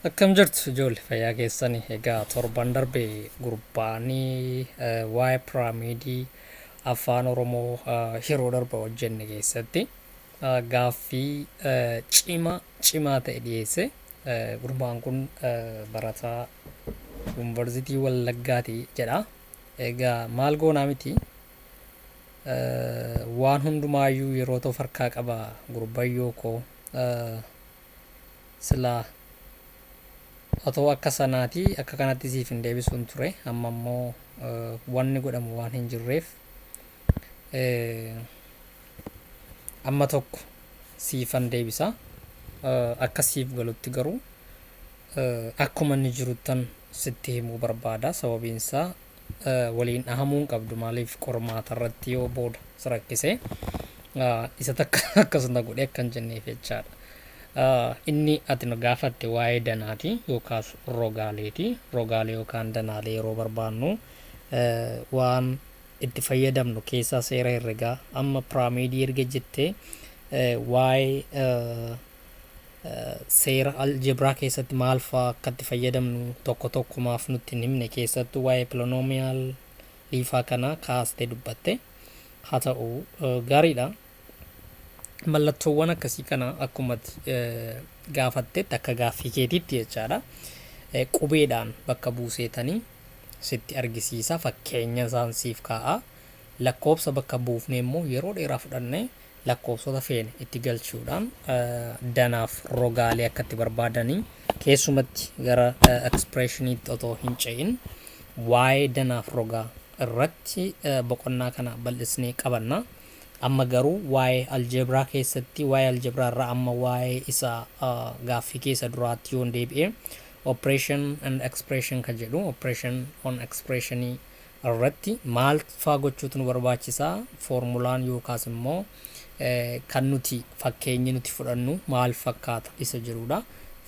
Akkam jirtu ijoollee fayyaa keessanii egaa torban darbe gurbaanii waa'ee piraamiidii afaan oromoo yeroo darba hojjenne keessatti gaaffii cima cimaa ta'e dhiyeesse gurbaan kun barataa yuunivarsiitii wallaggaati jedha egaa maal goonaa miti Waan hundumaayyuu yeroota of harkaa qaba gurbayyoo koo silaa otoo akka sanaati akka kanatti siif hin deebisuun ture amma immoo wanni godhamu waan hin jirreef amma tokko siifan deebisa akka siif galutti garuu akkuma inni jiruttan sitti himuu barbaada sababiin isaa waliin dhahamuu hin qabdu maaliif qormaata irratti yoo booda si rakkise isa takka akkas na godhe akkan jenneef jechaadha. Inni ati nu gaafatte waa'ee danaati yookaas rogaaleeti. Rogaalee yookaan danaalee yeroo barbaannu waan itti fayyadamnu keessaa seera herregaa amma piraamiidii erga jettee waa'ee Seera Algebra keessatti maal faa akka itti fayyadamnu tokko tokko maaf nutti hin himne keessattuu waa'ee polynomial liifaa kana kaaste dubbatte. Haa ta'u gaariidha. Mallattoowwan akkasii kana akkuma gaafattetti akka gaaffii keetiitti jechaadha. Qubeedhaan bakka buuseetanii sitti argisiisa fakkeenya isaan siif kaa'a. Lakkoobsa bakka buufnee immoo yeroo dheeraa fudhannee lakkoofsota feene itti galchuudhaan danaaf rogaalee akka itti barbaadanii keessumatti gara expressioniitti otoo hin ce'in waa'ee danaaf rogaa irratti boqonnaa kana bal'isnee qabanna. Amma garuu waa'ee aljeebraa keessatti waa'ee aljeebraa irraa amma waa'ee isa gaaffii keessa duraatti yoon deebi'e operation and expression kan jedhu operation on expressionii irratti maal faa gochuutu nu barbaachisa? Foormulaan yookaas immoo kan nuti fakkeenyi nuti fudhannu maal fakkaata isa jedhuudha.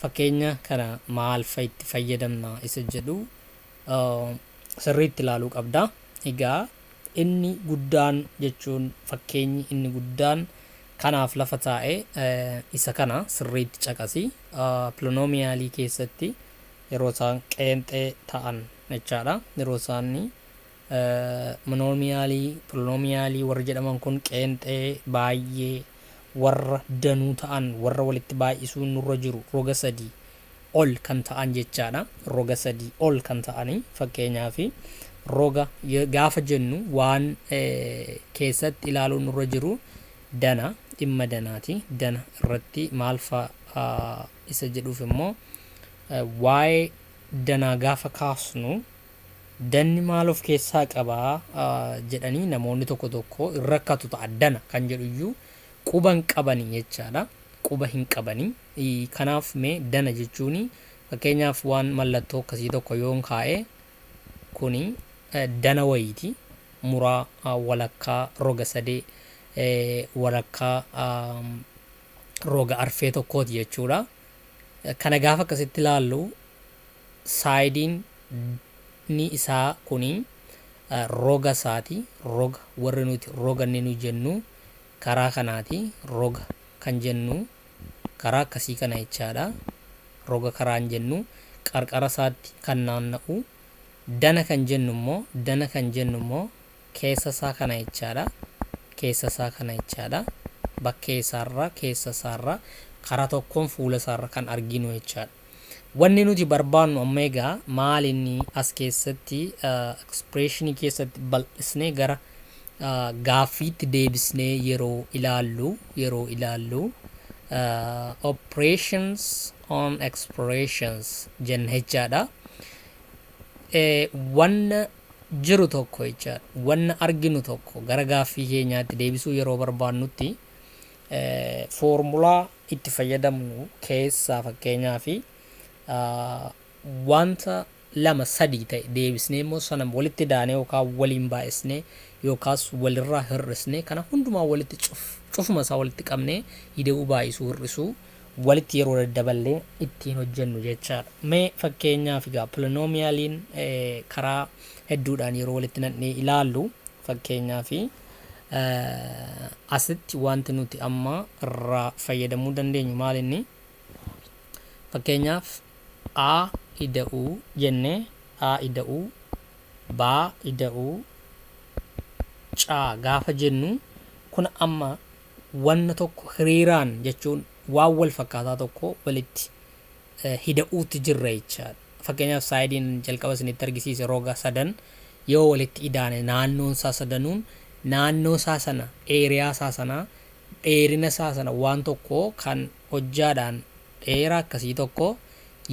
Fakkeenya kana maal fa'i itti fayyadamna isa jedhu sirriitti ilaaluu qabda. Egaa inni guddaan jechuun fakkeenyi inni guddaan kanaaf lafa taa'e isa kana sirriitti caqasi. Piloonoomiyaalii keessatti yeroo isaan qeenxee ta'an jechaadha. Yeroo isaan monoomiyaalii, polonoomiyaalii warri jedhaman kun qeenxee, baay'ee, warra danuu ta'an, warra walitti baay'isuun nurra jiru roga sadii ol kan ta'an jechaadha. Roga sadii ol kan ta'ani fakkeenyaaf roga ye- gaafa jennu waan eh, keessatti ilaaluun nurra jiru dana dhimma danaati. Dana irratti maal fa'a ah, isa jedhuuf immoo Waa'ee danaa gaafa kaasnu danni maal of keessaa qaba jedhanii namoonni tokko tokko hin rakkatu ta'a. Dana kan jedhu iyyuu quba hin qabani jechaadha. Quba hin qabani. Kanaaf mee dana jechuun fakkeenyaaf waan mallattoo akkasii tokko yoon kaa'e kuni dana wayiiti. Muraa walakkaa roga sadee walakkaa roga arfee tokkooti jechuudha. Kana gaafa akkasitti ilaallu saayidiin ni isaa kuni roga isaati. Roga warri nuti roga inni nu jennu karaa kanaati. Roga kan jennu karaa akkasii kana jechaadha. Roga karaan jennu qarqara isaatti kan naanna'u. Dana kan jennu immoo dana kan jennu immoo Keessa isaa kana jechaadha. Keessa isaa kana jechaadha. Bakkee isaarra, keessa isaarra, karaa tokkoon fuula isaarra kan arginu jechaadha. Wanni nuti barbaannu amma egaa maal inni as keessatti expression keessatti bal'isnee gara gaaffiitti deebisnee yeroo ilaallu yeroo ilaallu operations on expressions jenna jechaadha. wanna jiru tokko jechaadha. Wanna arginu tokko gara gaaffii keenyaatti deebisuu yeroo barbaannutti foormulaa itti fayyadamnu keessaa fakkeenyaaf wanta lama sadii ta'e deebisnee immoo sana walitti daanee yookaan waliin baay'isnee yookaas walirraa hir'isnee kana hundumaa walitti cuf cufuma isaa walitti qabnee hida'uu baay'isuu hir'isuu walitti yeroo daddaballee ittiin hojjennu jechaadha. Mee fakkeenyaaf egaa polinoomiyaliin karaa hedduudhaan yeroo walitti naqnee ilaallu fakkeenyaaf asitti wanti nuti amma irraa fayyadamuu dandeenyu maal inni fakkeenyaaf a ida'uu jennee a ida'uu baa ida'uu caa gaafa jennu kun amma wanna tokko hiriiraan jechuun waan wal fakkaataa tokko walitti hida'uutti jirra jechaadha. Fakkeenyaaf saayidiin jalqaba isinitti argisiise roga sadan yoo walitti idaane naannoon isaa sadanuun naannoo isaa sana eeriyaa isaa sana dheerina isaa sana waan tokko kan hojjaadhaan dheera akkasii tokko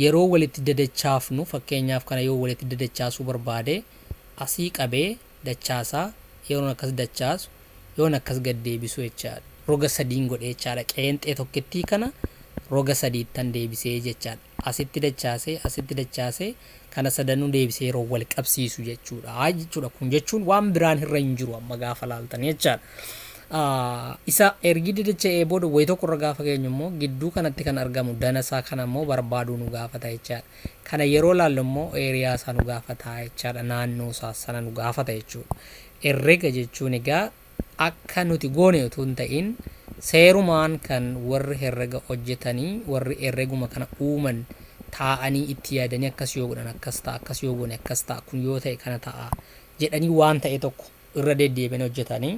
yeroo walitti dadachaafnu fakkeenyaaf kana yoo walitti dadachaasuu barbaade asii qabee dachaasaa yeroon akkas dachaasu yoon akkas gad deebisu jechaadha. Roga sadiin godhe jechaadha. Qeenxee tokkittii kana roga sadiittan deebisee jechaadha. Asitti dachaasee, asitti dachaasee kana sadanuu deebisee yeroo wal qabsiisu jechuudha jechuudha. Kun jechuun waan biraan irra hin jiru amma gaafa laaltan jechaadha. Isa ergi didacha'ee booda wayi tokko irra gaafa geenyu immoo gidduu kanatti kan argamu dana isaa kana immoo barbaaduu nu gaafata jechaadha. Kana yeroo laallu immoo area isaa nu gaafata jechaadha, naannoo isaa sana nu gaafata jechuudha. Herrega jechuun egaa akka nuti goone utuu hin ta'iin seerumaan kan warri herrega hojjetanii, warri herreguma kana uuman taa'anii itti yaadanii akkas yoo godhan akkas ta'a, akkas yoo goone akkas ta'a, kun yoo ta'e kana ta'a jedhanii waan ta'e tokko irra deddeebi'anii hojjetanii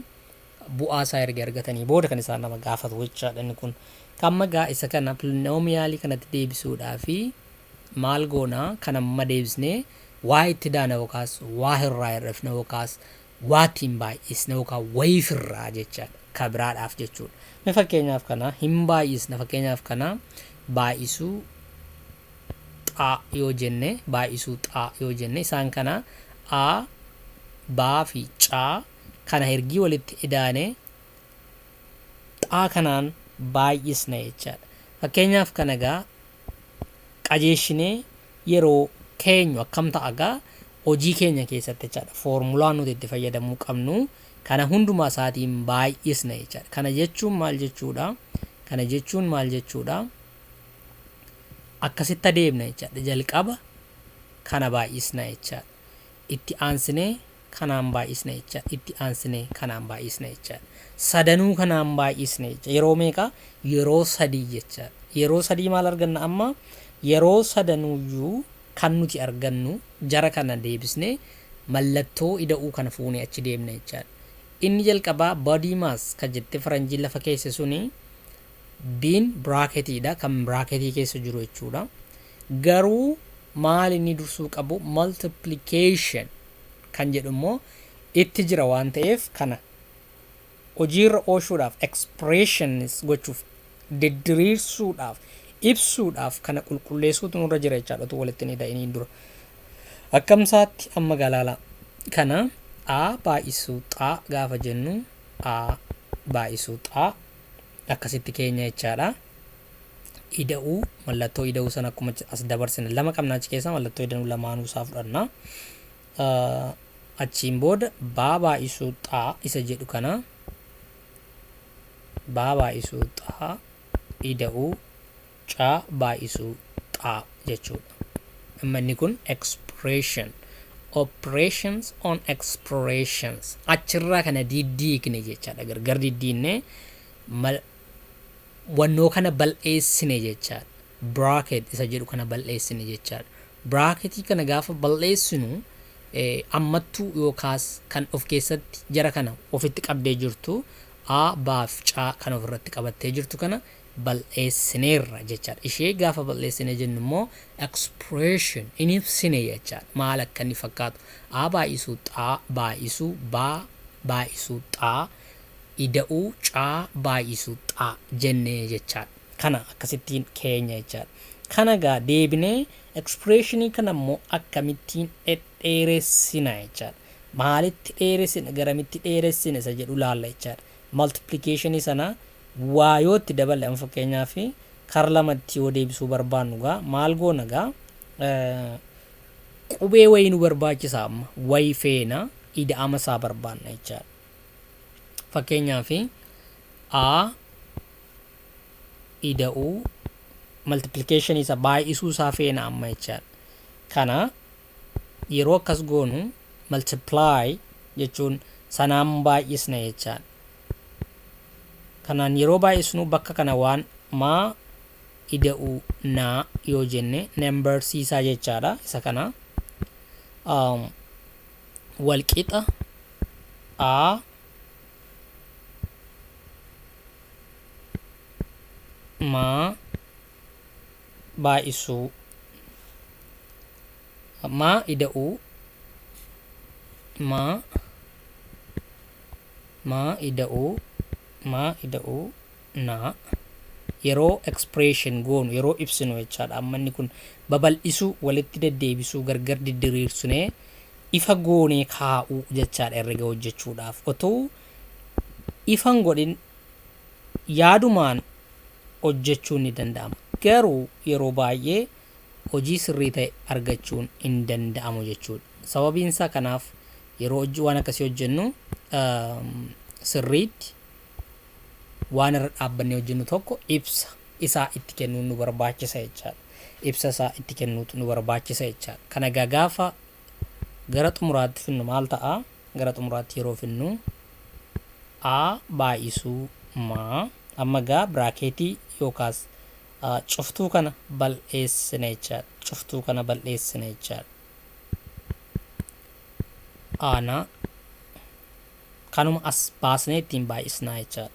bu'aa isaa erga argatanii booda kan isaan nama gaafatu jechaadha inni kun. Kamma gaa isa kana pilinoomiyaalii kanatti deebisuudhaa fi maal goona kan amma deebisnee waa itti daana yookaas waa irraa hir'ifna yookaas waa ittiin baay'isna yookaan wayiif irraa jechaadha ka biraadhaaf jechuudha. Mee fakkeenyaaf kana hin baay'isna fakkeenyaaf kana baay'isuu xaa yoo jenne baay'isuu xaa yoo jenne isaan kana a baa fi caa kana ergii walitti idaane xaa kanaan baay'isna jechaadha. Fakkeenyaaf kana egaa qajeeshinee yeroo keenyu akkam ta'a egaa hojii keenya keessatti jechaadha. Foormulaa nuti itti fayyadamuu qabnu kana hundumaa isaatiin baay'isna jechaadha. Kana jechuun maal jechuudha? Kana jechuun maal jechuudha? Akkasitti adeemna jechaadha. Jalqaba kana baay'isna jechaadha. Itti aansinee kanaan baay'isna jecha. Itti aansinee kanaan baay'isna jecha. Sadanuu kanaan baay'isne jecha. Yeroo meeqa? Yeroo sadii jecha. Yeroo sadii maal arganna amma? Yeroo sadanuuyyuu kan nuti argannu jara kana deebisnee mallattoo ida'uu kana fuunee achi deemna jechaadha. Inni jalqabaa body mass kan jettee faranjiin lafa keesse suni B'n biraaketii dha, kan biraaketii keessa jiru jechuu dha. Garuu maal inni dursuu qabu multiplication kan jedhu immoo itti jira waan ta'eef kana hojiirra oolchuudhaaf expressions gochuuf diddiriirsuudhaaf ibsuudhaaf kana qulqulleessuutu nurra jira jechaadha utuu walitti hin ida'iniin dura. Akkamsaatti amma galaala kana a baay'isuu xaa gaafa jennu a baay'isuu xaa akkasitti keenya jechaadha. Ida'uu mallattoo ida'uu sana akkuma as dabarsine lama qabna achi keessaa mallattoo idanuu lamaanuu isaa fudhanna. Achiin booda baa baay'isuu xaa isa jedhu kana baa baay'isuu xaa ida'uu caa baay'isuu xaa jechuudha. Amma inni kun expression operations on explorations achirraa kana diddiigne jechaadha gargar diddiigne mal wannoo kana bal'eessine jechaadha. Bracket isa jedhu kana bal'eessine jechaadha. Bracketii kana gaafa bal'eessinu eh, ammattuu yookaas kan of keessatti jara kana ofitti qabdee jirtu a baaf caa kan ofirratti qabattee jirtu kana bal'eessineerra jechaadha. Ishee gaafa bal'eessine jennu immoo expression in ibsine jechaadha. Maal akka inni fakkaatu. A baay'isuu xaa baay'isuu baa baay'isuu xaa ida'uu caa baay'isuu xaa jennee jechaadha. Kana akkasittiin keenya jechaadha. Kana gaa deebinee expressionii kana immoo akkamittiin dhedheeressina jechaadha. Maalitti dheeressina garamitti dheeressina isa jedhu laalla jechaadha. Multiplication sana waa yoo itti daballe amma fakkeenyaaf kar lama itti yoo deebisuu barbaannu gaa maal goona gaa qubee wayii nu barbaachisa amma wayi feena ida'ama isaa barbaanna jechaadha. Fakkeenyaaf a ida'uu maltiplikeeshinii isa baay'isuu isaa feena amma jechaadha. Kana Yeroo akkas goonu multiply jechuun sanaan baay'isna jechaadha. Kanaan yeroo baay'isnu bakka kana waan maa ida'uu naa yoo jenne number siisaa jechaadha. Isa kana um, walqixa a maa baay'isuu maa ida'uu maa maa ida'uu maa ida'uu naa yeroo expression goonu yeroo ibsinu jechaadha amma inni kun babal'isuu walitti deddeebisuu gargar diddiriirsinee ifa goonee kaa'uu jechaadha herrega hojjechuudhaaf otuu ifan godhin yaadumaan hojjechuun ni danda'ama. Garuu yeroo baay'ee hojii sirrii ta'e argachuun hin danda'amu jechuudha. Sababiin isaa kanaaf yeroo hojii waan akkasii hojjennu sirriitti waan irra dhaabbannee hojjennu tokko ibsa isaa itti kennuun nu barbaachisa jechaadha. Ibsa isaa itti kennuutu nu barbaachisa jechaadha. Kana egaa gaafa gara xumuraatti finnu maal ta'a? gara xumuraatti yeroo fidnu a baay'isuu ma amma egaa biraakeetii yookaas cuftuu kana bal'eessina jechaadha. Cuftuu kana bal'eessina jechaadha. Aana kanuma as baasnee ittiin baay'isnaa jechaadha.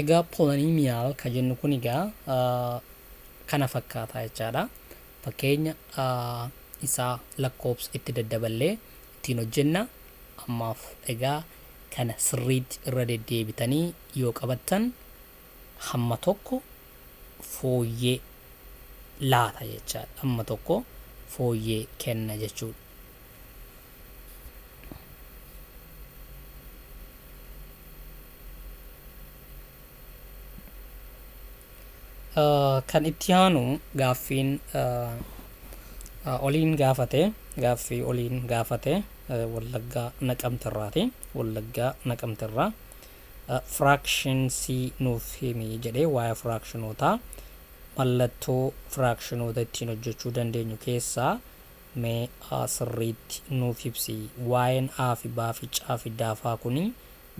Egaa polanimiyaal ka jennu kun egaa kana fakkaata jechaadha. Fakkeenya isaa lakkoofsa itti daddaballee ittiin hojjenna. Ammaaf egaa kana sirriitti irra deddeebitanii yoo qabattan hamma tokko fooyyee laata jechaadha. Hamma tokko fooyyee kenna jechuudha. Kan itti aanu gaaffiin oliin gaafate gaaffii oliin gaafate wallaggaa naqamterraati wallaggaa naqamterraa firaakshin C nuuf himi jedhee waa'ee firaakshinootaa mallattoo firaakshinoota ittiin hojjechuu dandeenyu keessaa mee sirriitti nuuf ibsi waa'een A fi B fi C fi D kuni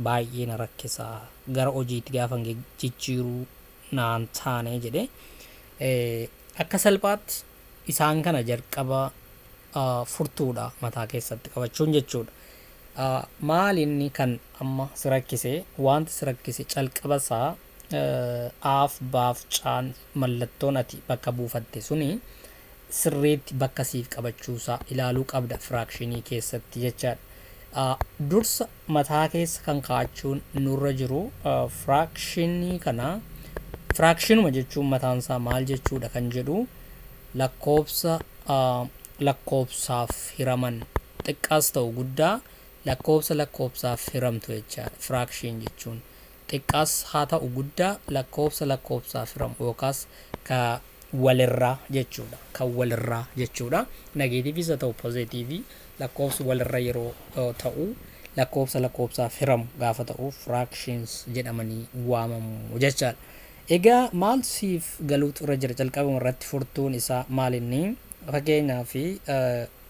baay'ee na rakkisa, gara hojiitti gaafan jijjiiru naan taane jedhe. Akka salphaatti isaan kana jalqaba furtuudha mataa keessatti qabachuun jechuudha. Maal inni kan amma si rakkise wanti si rakkise calqaba isaa aaf baaf caan mallattoon ati bakka buufatte suni sirriitti bakka siif qabachuusaa ilaaluu qabda firaakshinii keessatti jechaadha. Dursa mataa keessa kan kaa'achuun nurra jiru firaakshinii kana firaakshinuma jechuun mataansaa maal jechuudha kan jedhu lakkoofsa lakkoofsaaf hiraman xiqqaas ta'u guddaa lakkoofsa lakkoofsaaf hiramtu jechaadha firaakshiin jechuun. xiqqaas haa ta'u guddaa lakkoofsa lakkoofsaaf hiramu yookaas ka walirraa jechuudha. Kan walirraa jechuudha. Nageetiiviis haa ta'u pozeetiivii lakkoofsi walirra yeroo ta'u lakkoofsa lakkoofsaaf hiramu gaafa ta'u fractions jedhamanii waamamu jechaadha. Egaa maaltu siif galuutu irra jira jalqabuma irratti furtuun isaa maal inni? Fakkeenyaaf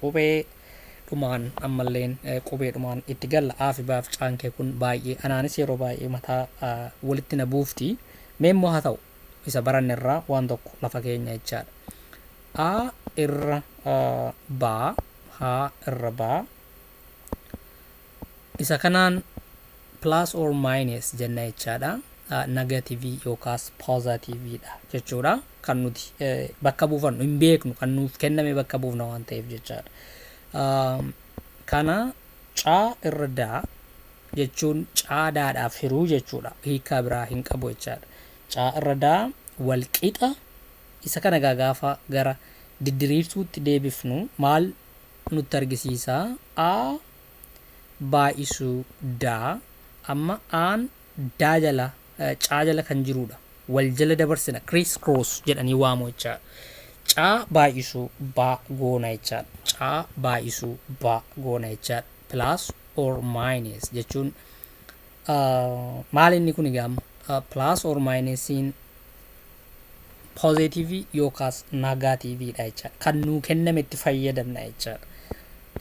Qubee dhumaan ammalleen qubee dhumaan itti galla A fi B fi Caan kee kun baay'ee anaanis yeroo baay'ee mataa walitti na buufti. Mee immoo haa ta'u isa baranne irraa waan tokko lafa keenya jechaadha. A irra B, H irra B, Isa kanaan plus or minus jenna jechaadha. Negative yookaas positive dha jechuudha. Kan nuti bakka buufannu hin beeknu kan nuuf kenname bakka buufna waan ta'eef jechaadha. Kana caa irra daa jechuun caa daadhaaf hiruu jechuudha. Hiikaa biraa hin qabu jechaadha. Caa irra daa wal qixa isa kana egaa gaafa gara diddiriirsuutti deebifnu maal nutti argisiisa? A baay'isuu daa amma aan daa jala caa jala kan jiruudha. Wal jala dabarsina criss cross jedhanii waamu jechaadha. Caa baay'isuu baa goona jechaadha. Caa baay'isuu baa goona jechaadha. Plus or minus jechuun maal inni kun egaa amma plus or minus'n positive yookaas negative dha jecha kan nuu kenname itti fayyadamna jecha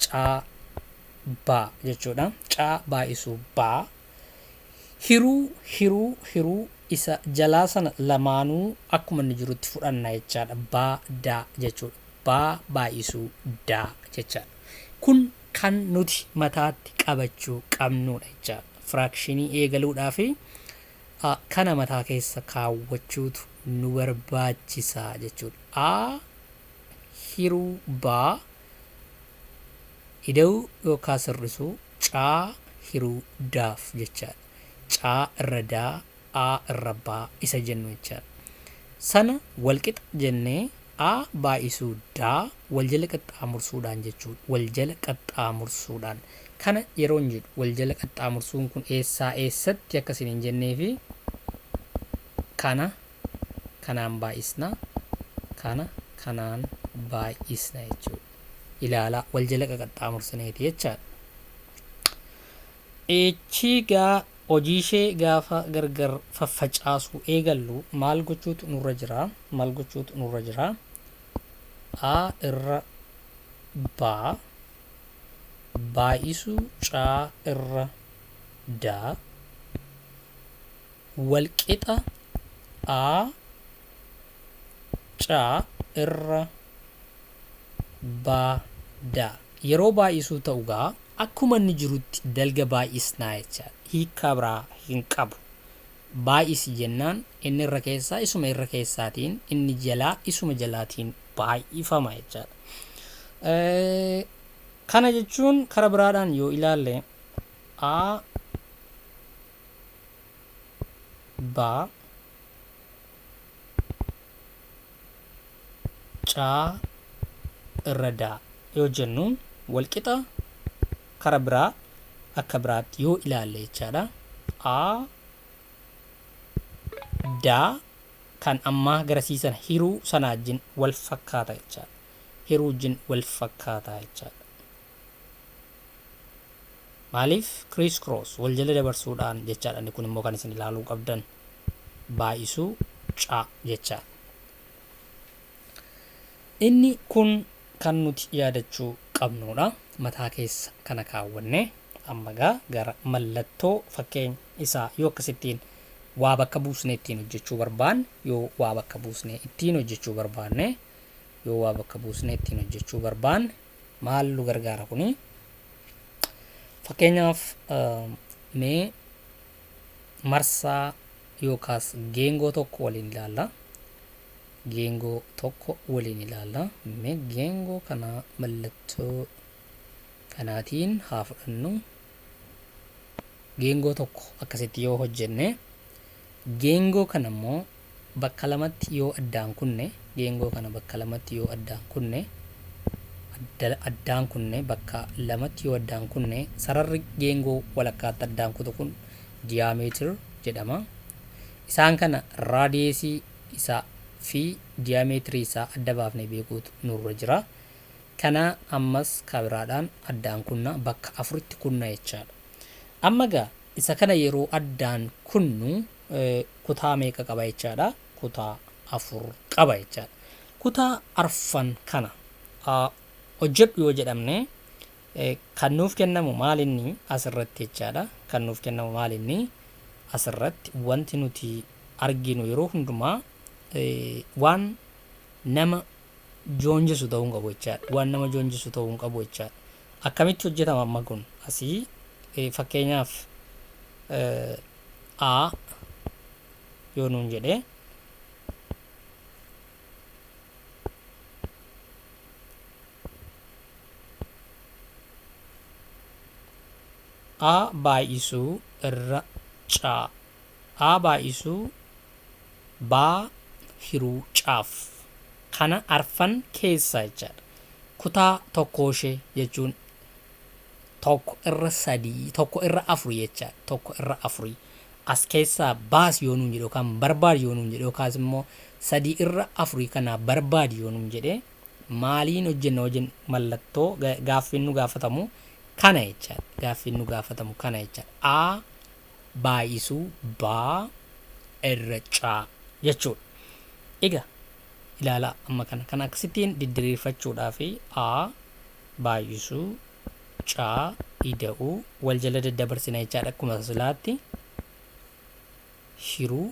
caa baa jechuudha caa baay'isuu baa hiruu hiruu hiruu isa jalaa sana lamaanuu akkuma inni jirutti fudhanna jechaadha baa daa jechuudha baa baay'isuu daa jechaadha kun kan nuti mataatti qabachuu qabnuudha jechaadha. Firaakshinii eegaluudhaaf a kana mataa keessa kaawwachuutu nu barbaachisa jechuudha. a hiruu baa ida'uu yookaan sirrisuu caa hiruu daaf jechaadha. caa irra daa a irrabbaa isa jennu jechaadha. Sana walqixa jennee a baay'isuu da waljala qaxxaamursuudhaan jechuudha. Waljala qaxxaamursuudhaan. Kana yeroon jedhu waljala qaxxaamursuun kun eessaa eessatti akka isin hin jenneefi kana kanaan baay'isna kana kanaan baay'isna jechuudha. Ilaalaa waljala qaqaxxaamursineeti jechaadha. Echiigaa Hojiishee gaafa gargar faffacaasuu eegallu maal gochuutu nurra jira? Maal gochuutu nurra jira? A irra B baay'isuu C irra D walqixa A C irra baa da Yeroo baay'isuu ta'u gaa. Akkuma inni jirutti dalga baay'isnaa jechaadha. Hiikkaa biraa hin qabu. Baay'isi jennaan inni irra keessaa isuma irra keessaatiin, inni jalaa isuma jalaatiin baay'ifama jechaadha. Kana jechuun kara biraadhaan yoo ilaalle A ba caa irra daa yoo jennu walqixa kara biraa akka biraatti yoo ilaalle jechaadha. A daa kan ammaa garasiisan hiruu sanaajjin wal fakkaata jechaadha. Hiruujjin wal fakkaataa jechaadha. Maaliif criss cross wal jala dabarsuudhaan jechaadha inni kun immoo kan isin ilaaluu qabdan baay'isuu ca jechaa inni kun kan nuti yaadachuu qabnuudha mataa keessa kana kaawwanne amma gaa gara mallattoo fakkeenya isaa yoo akkasittiin waa bakka buusne ittiin hojjechuu barbaanne yoo waa bakka buusne ittiin hojjechuu barbaanne yoo waa bakka buusne ittiin hojjechuu barbaanne maal nu gargaara kuni fakkeenyaaf mee marsaa yookaas geengoo tokko waliin ilaalla geengoo tokko waliin ilaalla mee geengoo kana mallattoo kanaatiin haa fudhannu geengoo tokko akkasitti yoo hojjenne Geengoo kana immoo bakka lamatti yoo addaan kunne, geengoo kana bakka lamatti yoo addaan kunne, adda, addaan kunne, bakka lamatti yoo addaan kunne, sararri geengoo walakkaatti addaan kutu kun diyaameetir jedhama. Isaan kana raadiyeesii isaa fi diyaameetirii isaa adda baafnee beekuutu nurra jira. Kana ammas kabiraadhaan addaan kunna, bakka afuritti kunna jechaadha. Amma egaa Isa kana yeroo addaan kunnu kutaa meeqa qaba jechaadha? Kutaa afur qaba jechaadha. Kutaa arfan kana hojjedhu yoo jedhamne kan nuuf kennamu maal inni asirratti jechaadha. Kan nuuf kennamu maal inni asirratti wanti nuti arginu yeroo hundumaa waan nama joonjisu ta'uu hin qabu jechaadha. Waan nama joonjisu ta'uu hin qabu jechaadha. Akkamitti hojjetama amma kun? Asii eh, fakkeenyaaf eh, A yoo nuun jedhee A baay'isuu irra caa A baay'isuu baa hiruu caaf. Kana arfan keessaa jechaadha. Kutaa tokkooshee jechuun tokko irra sadii, tokko irra afuri jechaadha. Tokko irra afuri. As keessaa baasi yoo nuun jedhe yookaan barbaadi yoo nuun jedhe yookaas immoo sadii irra afurii kanaa barbaadi yoo nuun jedhe maaliin hojjenna wajjin mallattoo gaaffiin nu gaafatamu kana jechaadha. Gaaffiin nu gaafatamu kana jechaadha. A baay'isuu baa irra caa jechuudha. Ega ilaala amma kana kan akkasittiin diddiriirfachuudhaa fi a baay'isuu caa ida'uu wal jala daddabarsina jechaadha akkuma silaatti hiruu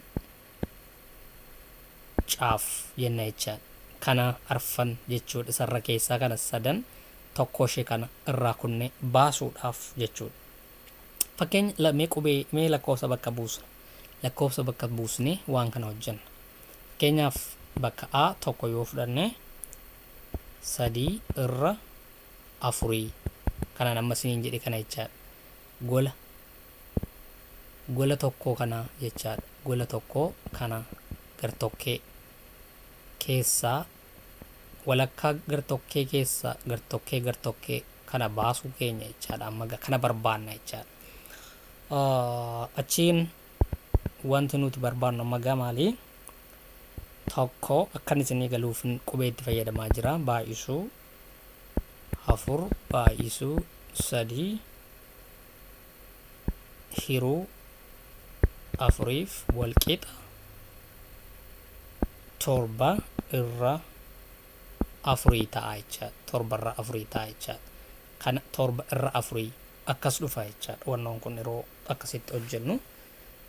caaf jenna jechaa kana arfan jechuudha sarra keessaa kana sadan tokko ishee kana irraa kunne baasuudhaaf jechuudha. Fakkeenya la- mee qubee mee lakkoofsa bakka buusna. Lakkoofsa bakka buusnee waan kana hojjenna. Fakkeenyaaf bakka A tokko yoo fudhanne sadii irra afurii kanaan amma isiniin jedhe kana jechaadha. Gola gola tokkoo kana jechaadha. Gola tokkoo kana gartokkee keessaa walakkaa gartokkee keessaa gartokkee gartokkee kana baasuu keenya jechaadha amma ga- kana barbaanna jechaadha Ah, achiin wanti nuti barbaannu amma gaa maali tokko akkan isinii galuuf qubee itti fayyadamaa jira baay'isuu afur baay'isuu sadii hiruu afuriif walqixa torba irra afurii ta'a jechaadha. Torba irra afurii ta'a jechaadha. Kana torba irra afurii akkas dhufa jechaadha. Wannoon kun yeroo akkasitti hojjennu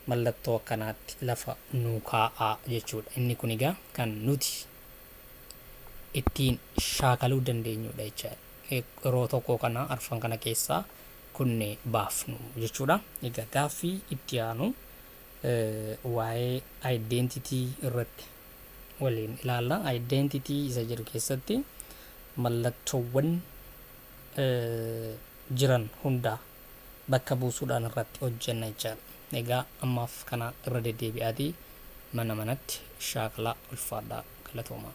mallattoo akkanaatti lafa nuu kaa'aa jechuudha. Inni kun egaa kan nuti ittiin shaakaluu dandeenyudha jechaadha. Yeroo tokko kana arfan kana keessaa kunne baafnu jechuudha. Egaa gaaffii itti aanu waa'ee identity irratti waliin ilaalla. Identity isa jedhu keessatti mallattoowwan jiran hundaa bakka buusuudhaan irratti hojjenna jechaadha. Egaa ammaaf kana irra deddeebi'aatii mana manatti shaakalaa ulfaadhaa galatoomaa.